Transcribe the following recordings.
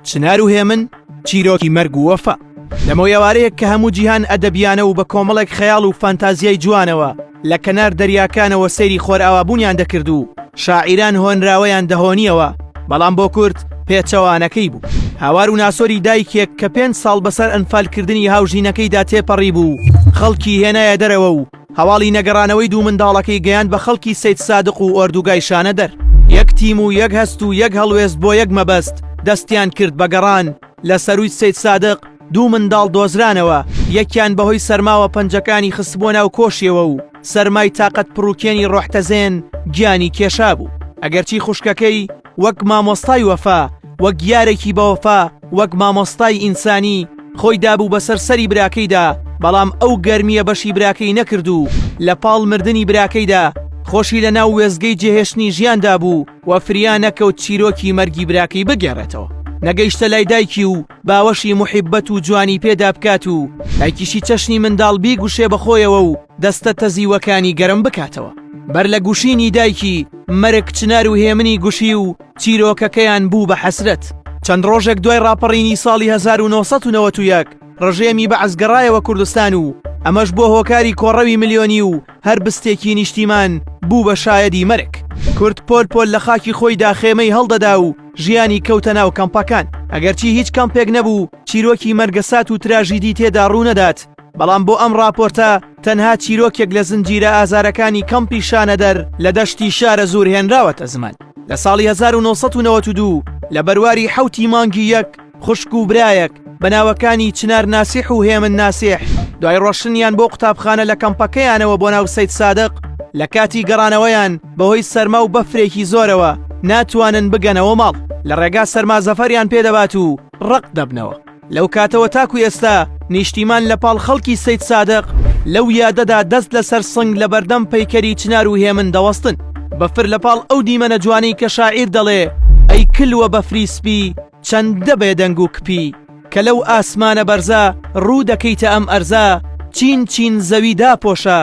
چنار و هێمن چیرۆکی مەرگ و وەفا لەمەو یاوارەیەک کە هەموو جیهان ئەدەبیانە و بە کۆمەڵێک خەیاڵ و فانتازیای جوانەوە لە کەنار دەریاکانەوە سەیری خۆرئاوابوونیان دەکرد و شاعیران هۆنراوەیان دەهۆنیەوە بەڵام بۆ کورد پێچەوانەکەی بوو هاوار و ناسۆری دایکێک کە پێنج ساڵ بەسەر ئەنفالکردنی هاوژینەکەیدا تێپەڕی بوو خەڵکی هێنایە دەرەوە و هەواڵی نەگەڕانەوەی دوو منداڵەکەی گەیاند بە خەڵکی سەیدسادق و ئۆردوگای شانەدەر، یەک تیم و یەک هەست و یەک هەڵوێست بۆ یەک مەبەست دەستیان کرد بە گەڕان، لە سەرووی سەیدسادق دوو منداڵ دۆزرانەوە، یەکیان بەهۆی سەرماوە پەنجەکانی خستبووە ناو کۆشیەوە و سەرمای تاقەت پڕوکێنی ڕۆحتەزێن گیانی کێشابوو، ئەگەرچی خوشکەکەی، وەک مامۆستای وەفا وەک یارێکی بەوەفا وەک مامۆستای ئینسانی خۆی دابوو بەسەر سەری براکەیدا بەڵام ئەو گەرمیە بەشی براکەی نەکرد و لە پاڵ مردنی براکەیدا خۆشی لە ناو وێزگەی جێهێشتنی ژیاندا بوو و فریا نەکەوت چیرۆکی مەرگی براکەی بگێڕێتەوە نەگەیشتە لای دایکی و باوەشی موحیبەت و جوانی پێدا بکات و دایکیشی چەشنی منداڵ بیگوشێ بە خۆیەوە و دەستە تەزیوەکانی گەرم بکاتەوە بەر لە گوشینی دایکی مەرگ چنار و هێمنی گوشی و چیرۆکەکەیان بوو بە حەسرەت چەند ڕۆژێک دوای ڕاپەڕینی ساڵی 1991 ڕژێمی بە ئەزگەڕایەوە کوردستان و ئەمەش بۆ هۆکاری کۆڕەوی ملیۆنی و هەر بستێکی نیشتیمان بوو بە شایەدی مەرگ کورد پۆل پۆل لە خاکی خۆیدا خێمەی هەڵدەدا و ژیانی کەوتە ناو کەمپەکان ئەگەرچی هیچ کەمپێک نەبوو چیرۆکی مەرگەسات و تراژیدی تێدا ڕوونەدات بەڵام بۆ ئەم راپۆرتە تەنها چیرۆکێک لە زنجیرە ئازارەکانی کەمپی شانەدەر لە دەشتی شارە زور هێنراوەتە زمان لە ساڵی 1992 لە بەرواری حوتی مانگی یەک خوشک و برایەک بە ناوەکانی چنار ناسیح و هێمن ناسیح دوای ڕۆشنیان بۆ قوتابخانە لە کەمپەکەیانەوە بۆ ناو سید سادق لە کاتی گەڕانەوەیان بەهۆی سەرما و بەفرێکی زۆرەوە ناتوانن بگەنەوە ماڵ لە ڕێگا سەرما زەفەریان پێدەبات و ڕق دەبنەوە لەو کاتەوە تاکو ئێستا نیشتیمان لە پاڵ خەڵکی سید سادق لەو یادەدا دەست لەسەر سنگ لە بەردەم پەیکەری چنار و هێمن دەوەستن بەفر لە پاڵ ئەو دیمەنە جوانی کە شاعیر دەڵێ ئەی کلوە بەفری سپی چەندە بێدەنگ و کپی کە لەو ئاسمانە بەرزە ڕوو دەکەیتە ئەم ئەرزە چین چین زەوی داپۆشە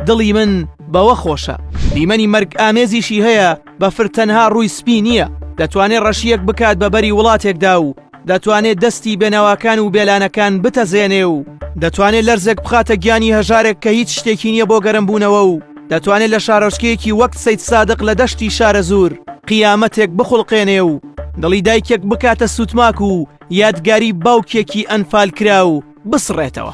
دڵی من بەوە خۆشە. دیمەنی مەرگ ئامێزیشی هەیە بەفر تەنها ڕووی سپی نییە دەتوانێ ڕەشییەک بکات بە بەری وڵاتێکدا و دەتوانێ دەستی بێنەواکان و بێلانەکان بتەزێنێ و دەتوانێ لەرزێک بخاتە گیانی هەژارێک کە هیچ شتێکی نییە بۆ گەرم بوونەوە و دەتوانێ لە شارۆچکەیەکی وەک سەیدسادق لە دەشتی شارەزوور قیامەتێک بخوڵقێنێ و دڵی دایکێک بکاتە سووتماک و یادگاری باوکێکی ئەنفال کرا و بسڕێتەوە.